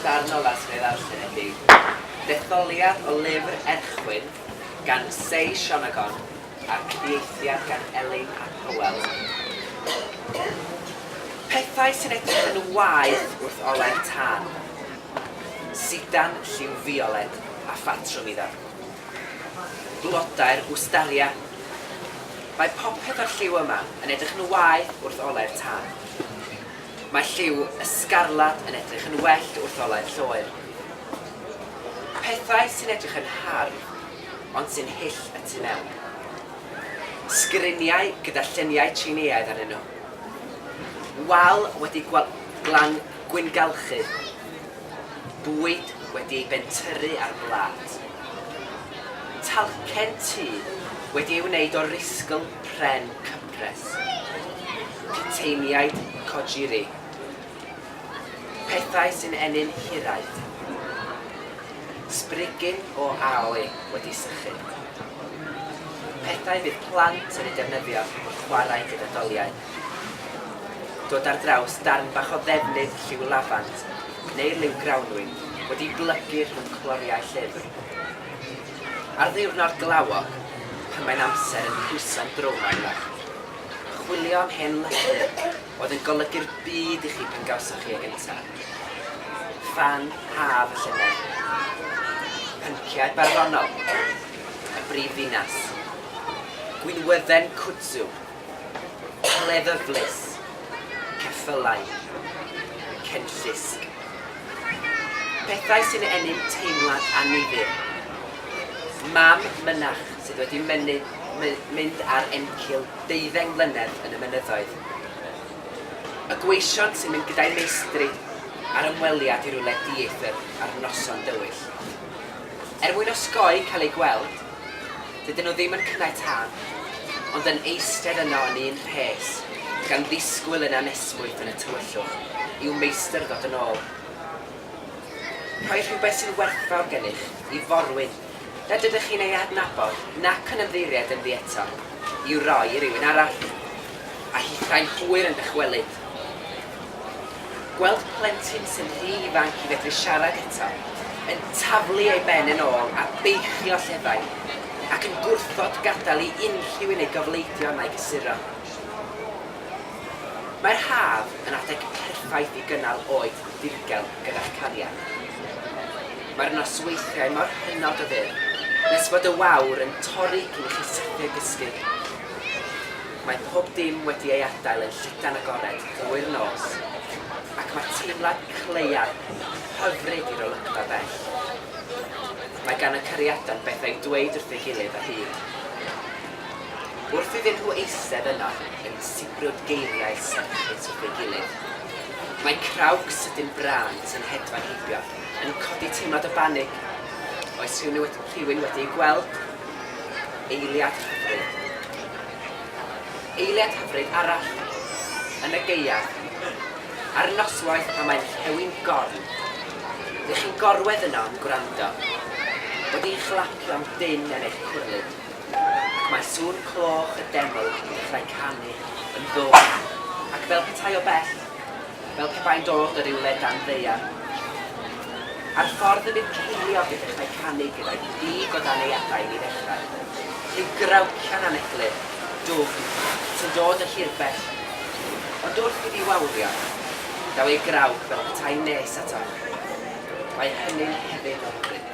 Darn o laswellt arsenetig, detholiad o lyfr Erchwyn gan Say Shonagon a cyfieithiad gan Elin ap Hywel. Pethau sy'n edrych yn waeth wrth olau'r tân. Sidan lliw fiolet a phatrwm iddo. Blodau'r Wstaria. Mae popeth o'r lliw yma yn edrych yn waeth wrth olau'r tân. Mae lliw y sgarlat yn edrych yn well wrth olau'r lloer. Pethau sy'n edrych yn hardd, ond sy'n hyll y tu mewn. Sgriniau gyda lluniau Tsieineaidd arnyn nhw. Wal wedi gwal glan gwyngalchu. Bwyd wedi ei bentyrru ar blât. Talcen tŷ wedi ei wneud o risgl pren cyp. Pres. Puteiniaid Kojiri. Pethau sy'n ennyn hiraeth. Sbrigyn o aoi wedi sychu. Pethau bydd plant yn eu defnyddio wrth chwarae gyda doliau. Dod ar draws darn bach o ddefnydd lliw lafant neu liw grawnwin wedi blygu rhwng cloriau llyfr. Ar ddiwrnod glawog, pan mae'n amser yn pwyso'n drwm ar lefft, chwilio am hen lythyr oedd yn golygu'r byd i chi pan gawsoch chi e gyntaf. Ffan haf y llynedd. Pynciau barddonol. Y brif ddinas. Gwinwydden Kudzu Cleddyflys, ceffylau, cenllysg. Pethau sy'n ennyn teimlad annifyr. Mam mynach sydd wedi mynnu, my, mynd ar encil deuddeng mlynedd yn y mynyddoedd. Y gweision sy'n mynd gyda'i meistri ar ymweliad i rywle dieithr ar noson dywyll. Er mwyn osgoi cael ei gweld, Dydyn nhw ddim yn cynnau tân, ond yn eistedd yno yn un rhes, gan ddisgwyl yn anesmwyth yn y tywyllwch i'w meistr ddod yn ôl. Rhoi rhywbeth sy'n werthfawr gennych i forwyn nad ydych chi'n ei adnabod nac yn ymddiheuried ynddi eto, i'w roi i rywun arall. A hithau'n hwyr yn dychwelyd. Gweld plentyn sy'n rhy ifanc i fedru siarad eto yn taflu ei ben yn ôl a beichio llefain, ac yn gwrthod gadael i unrhyw un ei gofleidio na'i gysuro. Mae'r haf yn adeg perffaith i gynnal oed ddirgel gyda'ch cariad. Mae'r nosweithiau mor hynod o fyr nes fod y wawr yn torri cyn i chi sydyn gysgu. Mae pob dim wedi ei adael yn llydan agored drwy'r nos, ac mae teimlad cleiaf hyfryd i'r olygfa bell. Mae gan y cariadon bethau i'w dweud wrth ei gilydd o hyd. Wrth iddyn nhw eistedd yno yn sibrwd geiriau serchus wrth ei gilydd, mae crawg sydyn Brant yn hedfan heibio, yn codi teimlad o banig. Oes rhywun wedi ei gweld? Eiliad hyfryd. Eiliad hyfryd arall yn y gaeaf ar noswaith pan mae'n rhewi'n gorn. Dych chi'n gorwedd yno yn gwrando, wedi chlapio am dân yn eich cwrlid, ac mae sŵn cloch y deml yn dechrau canu yn ddwfn ac fel petai o bell, fel pe bai'n dod o rywle dan ddaear. Ar ffordd y bydd ceiliog yn dechrau canu gyda'i gig o dan ei adain i ddechrau. Rhyw grawcian aneglur, dwfn, sy'n dod o hir bell. Ond wrth iddi wawrio, daw ei grawc fel petai nes ato. Mae hynny'n hefyd o hyfryd.